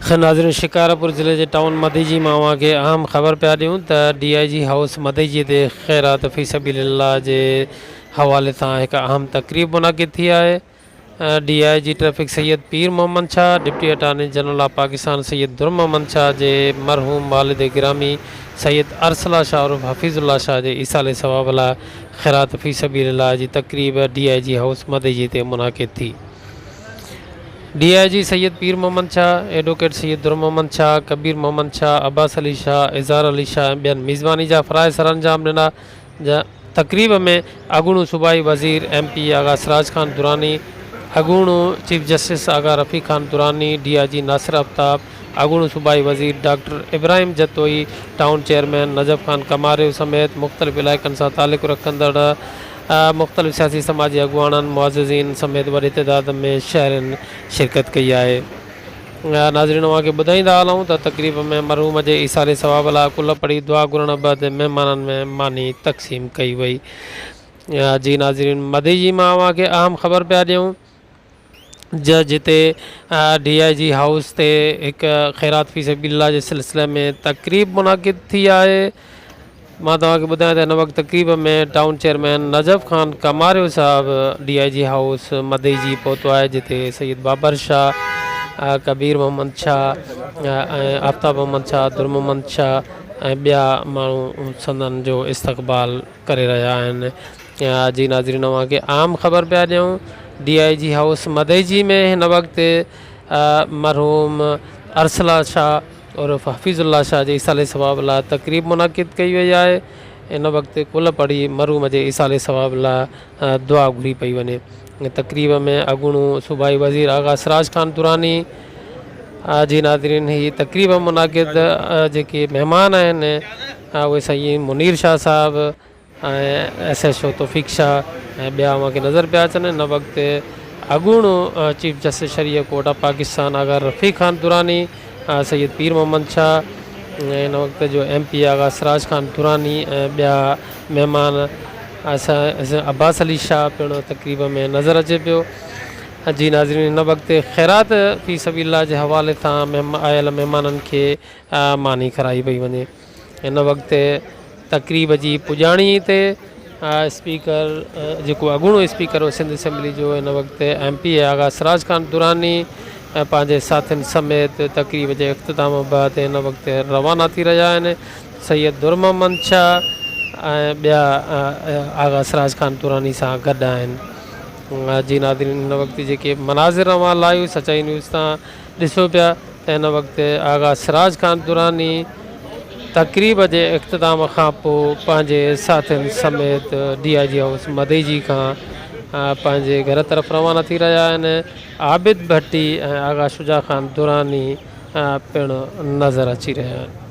خير ناظرين شڪارپور ضلعي جي ٽائون مديجي مان اوهان کي اهم خبر پيا ڏيون ته D I G house Madeji تي خيرات في سبيل الله جي حوالي سان هڪ اهم تقريب منعقد ٿي آهي D I G traffic Syed Pir Muhammad Shah deputy attorney general of Pakistan Syed Dur Muhammad Shah جي مرحوم والد گرامي سيد ارسلا شاهه عرف حفيظ الله شاهه جي ايصال ثواب لاء خيرات في سبيل الله جي تقريب D I G house Madeji تي منعقد ٿي. D I G Syed Pir Muhammad Shah, advocate Syed Dur Muhammad Shah, ڪبير محمد شاهه، عباس علي شاهه، اظهار علي شاهه ۽ ٻين ميزباني جا فرائض سرانجام ڏنا. تقريب ۾ اڳوڻو صوبائي وزير ايم پي آغا سراج خان دراني، اڳوڻو chief justice Agha Rafiq Khan Durrani, D I G Nasir Aftab, اڳوڻو صوبائي وزير doctor Ibrahim Jatoi, town chairman Najaf Khan Kamario سميت مختلف علائقن سان تعلق رکندڙ مختلف سياسي سماجي اڳواڻن معززين سميت وڏي تعداد ۾ شهرين شرڪت ڪئي آهي ناظرين اوهان کي ٻڌائيندا هلون ته تقريب ۾ مرحوم جي ايصال ثواب لاء ڪل پڙهي دعا گهرڻ بعد مهمانن ۾ ماني تقسيم ڪئي وئي جي ناظرين مدي جي مان اوهان کي اهم خبر پيا ڏيون جا جتي ڊي آء جي هائوس تي هڪ خيرات في سبيل الله جي سلسلي ۾ تقريب منعقد ٿي آهي مان توهان کي ٻڌايان ته هن وقت تقريب ۾ ٽائون چيئرمين نجف خان ڪماريو صاحب D I G house Madeji جي پهتو آهي جتي سيد بابر شاهه ڪبير محمد شاهه ۽ آفتاب محمد شاهه در محمد شاهه ۽ ٻيا ماڻهو سندن جو استقبال ڪري رهيا آهن اڄ جي ناظرين اوهان کي عام خبر پيا ڏيون D I G house Madeji ۾ هن وقت مرحوم ارسلا شاهه عرف حفيظ الله شاهه جي ايصال ثواب لاء تقريب منعقد ڪئي وئي آهي ان وقت ڪل پڙهي مرحوم جي ايصال ثواب لاء دعا گهري پئي وڃي ان تقريب ۾ اڳوڻو صوبائي وزير آغا سراج خان دراني جي ناظرين هي تقريب منعقد جيڪي مهمان آهن اهي سائين منير شاهه صاحب ۽ S H O Taufiq Shah ۽ ٻيا اوهان کي نظر پيا اچن ان وقت اڳوڻو چيف جسٽس شھري high court of Pakistan Agha Rafiq Khan Durrani Syed Pir Muhammad Shah ۽ ان وقت جو M P A Agha Siraj Khan Durrani ۽ ٻيا مهمان اسان عباس علي شاهه پڻ تقريب ۾ نظر اچي پيو جي ناظرين هن وقت خيرات في سبيل الله جي حوالي سان آيل مهمانن کي ماني کرائي پئي وڃي ان وقت تقريب جي پڄاڻي تي اسپيڪر جيڪو اڳوڻو اسپيڪر هو سنڌ اسيمبلي جو ان وقت M P A Agha Siraj Khan Durrani ۽ پنهنجي ساٿين سميت تقريب جي اختتام بعد ان وقت روانا ٿي رهيا آهن سيد در محمد شاهه ۽ ٻيا آغا سراج خان دراني سان گڏ آهن جي ناظرين ان وقت جيڪي مناظر اوهان لايو سچائي نيوز تان ڏسو پيا ته ان وقت آغا سراج خان دراني تقريب جي اختتام کان پوء پنهنجي ساٿين سميت D I G house Madeji کان پنهنجي گهر طرف روانا ٿي رهيا آهن عابد ڀٽي ۽ آغا شجاع خان دراني پڻ نظر اچي رهيا آهن.